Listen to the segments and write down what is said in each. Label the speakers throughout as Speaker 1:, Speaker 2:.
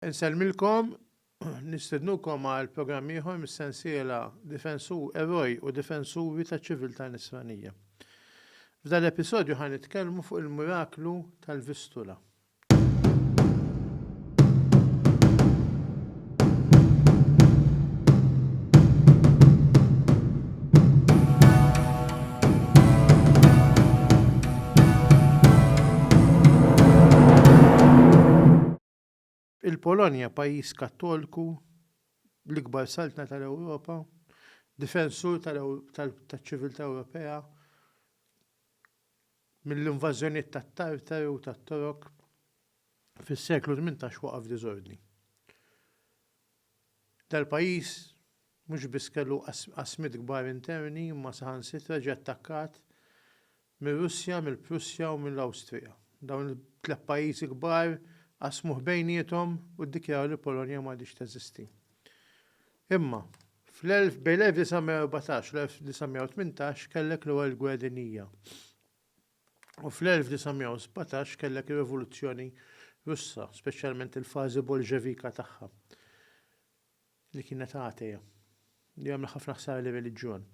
Speaker 1: Insellmilkom, nistednukom għal programm ieħor mis-sensiela Difensu, Eroj u Difensuri taċ-Ċiviltà Nisranija. F'dan l-episodju ħa nitkellmu fuq il-miraklu tal-Vistula. Il-Polonja, pajjiż Kattolku, l-ikbar saltna tal-Ewropa, difensur taċ-ċiviltà Ewropea mill-invażjonijiet tat-Tartari u tat-Torok, fis-seklu tmintax waqa' f'diżordni. Dal-pajjiż mhux biss kellu qasmiet kbar interni imma saħansitra ġie attakkat mir-Russja, mill-Prussja u mill-Awstrija. Dawn it-tliet pajjiżi kbar qasmuh bejniethom u ddikjaraw li l-Polonja m'għadhiex teżisti. Imma, fl-elf, bejn l-1914 u l-1918 kellek l-Ewwel Gwerra Dinjija. u fl-1917 kellek ir-Rivoluzzjoni Russa, speċjalment il-fażi Bolxevika tagħha, li kienet għateja, li għamlet ħafna ħsara lir-reliġjon.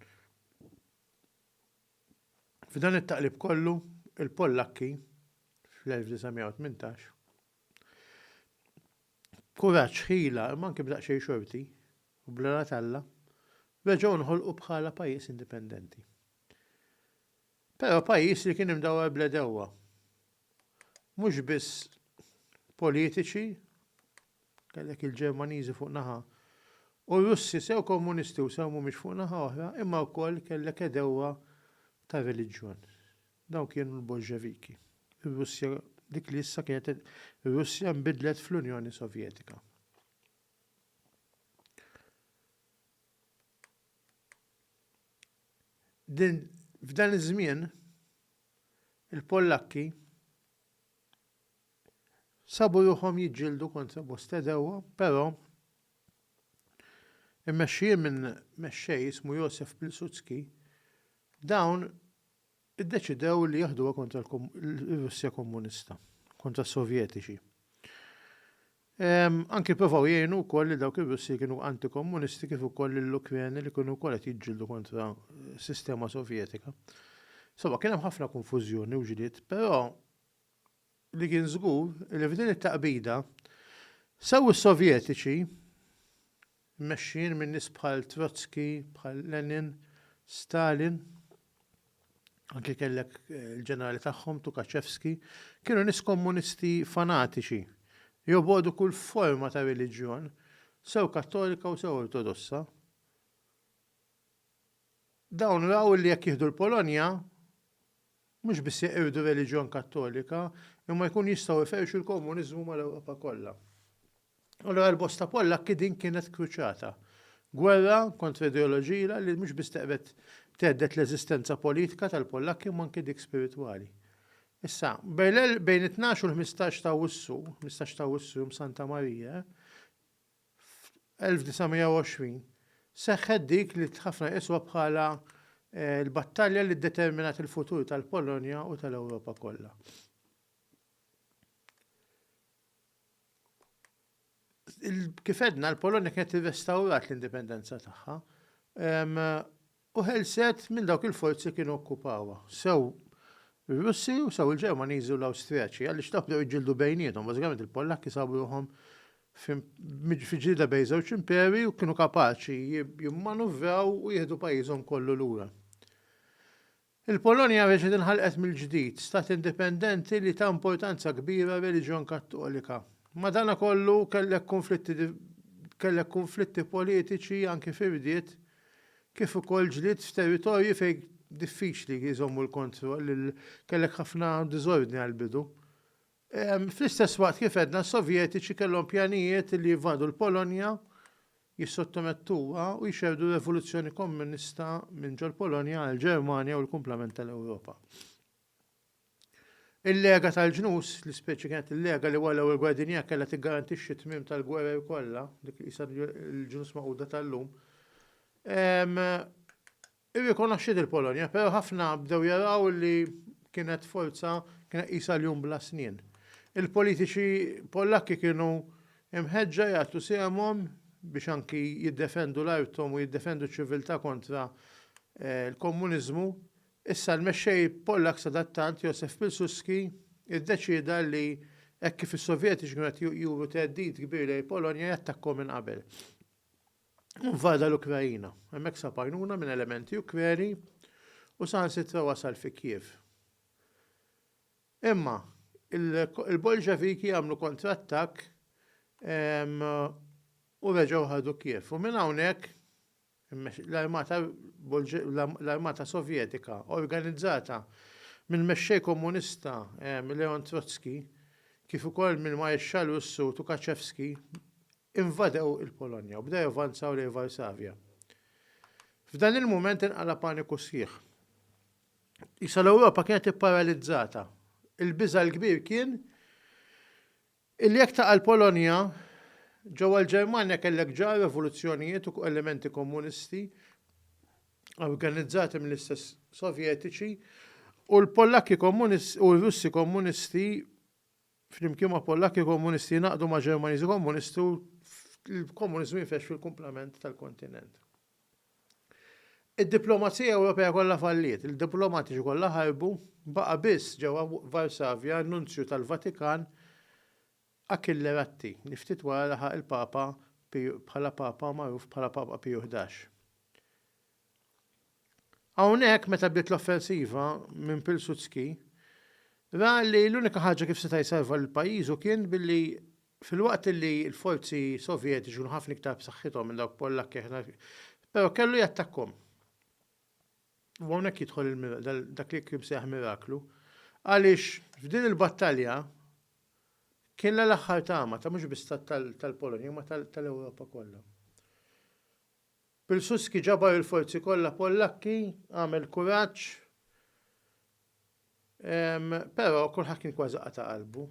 Speaker 1: F'dan it-taqlib kollu, il-Pollakki fl-1918 kuraġġ ħila imma anke b'daqsxejn xorti u bl-għana talla reġgħu nħolqu bħala pajjiż indipendenti. Però pajjiż li kien imdawwar bl-għedewwa, mhux biss politiċi, kellek il-Ġermaniżi fuq naħa u r-Russi sew Komunisti u sew mhumiex fuq naħa oħra, imma wkoll kellek għedewwa ta' reliġjon. Dawn kienu l-Bolxeviki. Ir-Russja dik li issa kienet ir-Russja nbidlet fl-Unjoni Sovjetika. Din f'dan iż-żmien il-Pollakki sabu ruħhom jiġġieldu kontra bosta għedewwa, però immexxijin minn mexxej ismu Josef Pilsudski, dawn iddeċidew li jeħduha kontra l-Russja Komunista, kontra s-Sovjetiċi. Anki pprovaw jgħinu wkoll li dawk ir-Russi li kienu antikomunisti kif ukoll lill-Ukreni li kienu wkoll qed jiġġieldu kontra s-sistema Sovjetika. Insomma, kien hemm ħafna konfużjoni u ġlied, però li kien żgur li f'din it-taqbida sew is-Sovjetiċi mmexxijin minn nies bħal Trotsky, bħal Lenin, Stalin, anki kellek il-ġenerali tagħhom Tukaċevski, kienu nies kommunisti fanatiċi, jobogħdu kull forma ta' reliġjon, sew Kattolika u sew Ortodossa. Dawn raw li jekk jieħdu l-Polonja, mhux biss jeqirdu r-reliġjon Kattolika, imma jkunu jistgħu jferrxu l-komuniżmu mal-Ewropa kollha. Allura għal bosta Pollakki din kienet kruċata. Gwerra kontra ideoloġila li mhux biss teqred thedded l-eżistenza politika tal-Pollakki imma anki dik spiritwali. Issa, bejn it-tnax u l-ħmistax t'Awwissu, ħmistax t'Awwissu, Jum Santa Marija, F'1920 seħħet dik li ħafna jqisuha bħala l-battalja li ddeterminat il-futur tal-Polonja u tal-Ewropa kollha. Kif għedna, l-Polonja kienet irrestawrat l-indipendenza tagħha U ħelset minn dawk il-forzi li kienu okkupawha, sew ir-Russi u sew il-Ġermaniżi u l-Awstrijaki, għaliex dawk bdew jiġġieldu bejniethom. Bażikament il-Pollakki sabu ruħhom fi ġlieda bejn żewġ imperi u kienu kapaċi jimmanuvraw u jieħdu pajjiżhom kollu lura. Il-Polonja reġgħet inħalqet mill-ġdid, stat indipendenti li ta importanza kbira r-reliġjon Kattolika. Madanakollu, kellek kunflitti kellek kunflitti politiċi anki fir-rdiet kif ukoll ġlied f'territorji fejn diffiċli jżommu l-kontroll, kellek ħafna diżordni għall-bidu. Fl-istess waqt kif għedna s-Sovjetiċi kellhom pjanijiet li jivvadu l-Polonja, jissottomettuha u jxerrdu r-revoluzzjoni Kommunista minn ġol-Polonja għall-Ġermanja u l-kumplament tal-Ewropa. Il-lega tal-ġnus, li speċi kienet il-lega li wara l-Ewwel Gwerra Dinjija kellha tiggarantixxi t-tmiem tal-gwerer kollha, dik li qisha l-ġnus magħquda tal-lum, Irrikonoxxiet il-Polonja, però ħafna bdew jaraw li kienet forza, kienet qisha ljun bla snien. Il-politiċi Pollakki kienu mħeġġa jagħtu sehemhom biex anki jiddefendu l-arthom u jiddefendu ċ-ċiviltà kontra l-komuniżmu. Issa l-mexxej Pollakk sadattant, Josef Pilsudski, iddeċieda li hekk kif is-Sovjetiċi kienu qed juru theddid kbir lejn il-Polonja, jattakkhom minn qabel. Invada l-Ukraina, hemmhekk sab għajnuna minn elementi Ukreni u saħansitra wasal fi Kiev. Imma il-Bolxeviki għamlu kontrattak ehm, u reġgħu ħadu Kiev. U minn hawnhekk l-armata sovjetika organizzata minn mexxej komunista eh, Leon Trotsky kif ukoll minn Maesċal Russu Tukaċevski invadew il-Polonja u bdew javvanzaw lejn Varsavja. F'dan il-mument inqala' paniku sħiħ. Qisha l-Ewropa kienet ipparalizzata. Il-biża' l-kbir kien illi jekk taqa' l-Polonja, ġewwa l-Ġermanja kellek ġa rivoluzzjonijiet u elementi komunisti organizzati mill-istess Sovjetiċi u l-Pollakki u r-Russi komunisti flimkien ma' Pollakki Komunisti jingħaqdu ma' Ġermaniżi Komunisti u l-Komuniżmu jfexx fil-kumplament tal-kontinent. Id-diplomazija Ewropea kollha falliet, il-diplomatiċi kollha ħarbu, baqa' biss ġewwa Varsavja n-Nunzju tal-Vatikan Achille Ratti, li ftit wara laħaq il-Papa bħala Papa magħruf bħala Papa Piju Ħdax. Hawnhekk meta bdiet l-offensiva minn Pilsudski, ra li l-unika ħaġa kif seta' jsalva lil pajjiżu kien billi filwaqt li l-forzi Sovjetiċi kienu ħafna iktar b'saħħithom minn dawk Pollakki aħna però kellu jattakkhom. U hawnhekk jidħol dak li kien seħ miraklu għaliex f'din il-battalja kien l-aħħar tama ta' mhux biss tal-Polonja ma tal-Ewropa kollha. Pilsudski ġabar il-forzi kollha Pollakki, għamel kuraġġ, però kulħadd kien kważi qata' qalbu.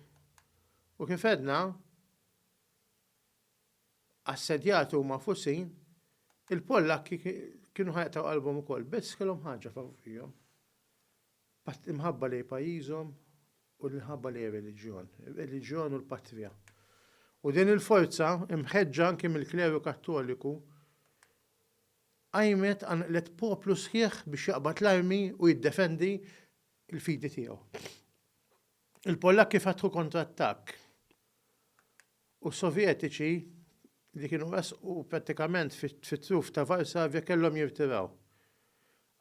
Speaker 1: U kif għedna, assedjati u magħfusin, il-Pollakki kienu ħa jaqtgħu qalbhom ukoll, biss kellhom ħaġa favurihom. L-imħabba lejn pajjiżhom u l-imħabba lejn ir-reliġjon, ir-reliġjon u l-patrija. U din il-forza, imħeġġa anki mill-kleru Kattoliku, qajmet, qanqlet poplu sħiħ biex jaqbad l-armi u jiddefendi l-fidi tiegħu. Il-Pollakki fetħu kontrattakk u Sovjetiċi li kienu resqu prattikament fit-truf ta' Varsavja kellhom jirtiraw.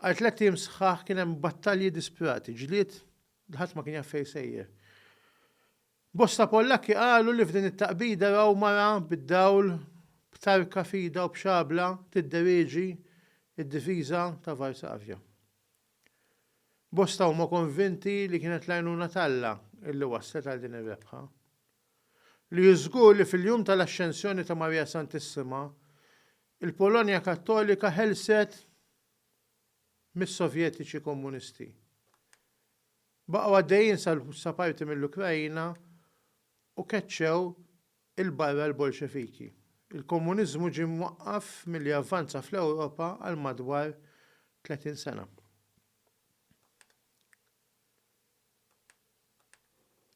Speaker 1: Għal tlett ijiem sħaħ kien hemm battalji disprati, ġlied li ħadd ma kien jaf fejn sejjer. Bosta Pollakki qalu li f'din it-taqbida raw mara bid-dawl b'tarka f'idha u b'xabla tidderieġi d-difiża ta' Varsavja. Bosta huma konvinti li kienet l-għajnuna t'Alla li wasslet għal din ir-rebħa. li hu żgur li fil-jum tal-Axxensjoni ta' Marija Santissima, il-Polonja Kattolika ħelset mis-Sovjetiċi Komunisti. Baqgħu għaddejjin sa parti mill-Ukraina u keċċew 'il barra l-Bolxeviki. Il-Komuniżmu ġie mwaqqaf milli avvanza fl-Ewropa għal madwar 30 sena.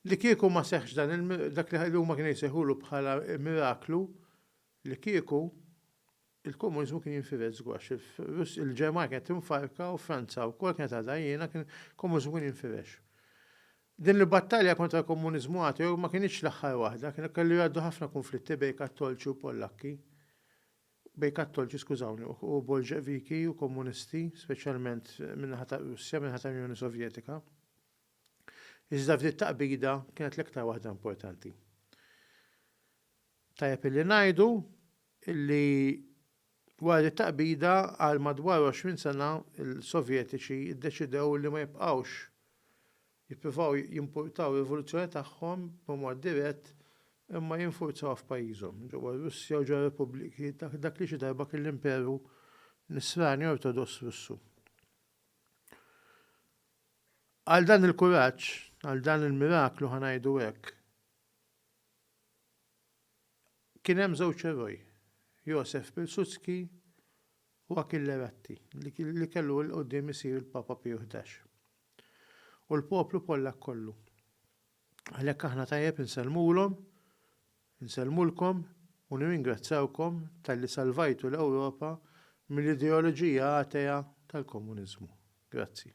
Speaker 1: Li kieku ma seħħx dan il dak li huma kienu jsejħulu bħala miraklu, li kieku il-komuniżmu kien jinfired żgwax. Il-Ġermanja kienet tinfarka u Franza wkoll kienet għadha għajjena kien komuniżmu kien jinfirex. Din il-battalja kontra l-komuniżmu ateo ma kienitx l-aħħar waħda, kienu kellu jgħaddu ħafna kunflitti bejn Kattolċi u Pollakki. bejn Kattolċi, skużawni, u Bolxeviki u Komunisti, speċjalment min-naħa tar-Russja, min-naħa tal-Unjoni Sovjetika. Iżda f'din it-taqbida kienet l-iktar waħda importanti. Tajjeb illi ngħidu illi wara din it-taqbida għal madwar 20 sena l-Sovjetiċi ddeċidew li ma jibqgħux Jippruvaw jimpurtaw rivoluzzjoni tagħhom b'mod dirett imma jinfurzawha f'pajjiżhom, ġewwa r-Russja u ġewwa r-repubbliki, dak li xi darba kien l-Imperu Nisrani Ortodoss Russu. Għal dan il-kuraġġ, għal dan il-miraklu ħa ngħidu hekk, kien hemm żewġ eroj, Josef Pilsudski u Achille Ratti, li kellu 'l quddiem isir il-Papa Piju Ħdax. u l-poplu Pollakk kollu. Għalhekk aħna tajjeb insellmulhom, insellmulkom u nirringrazzjawkom talli salvajtu l-Ewropa mill-ideoloġija atea tal-komuniżmu. Grazzi.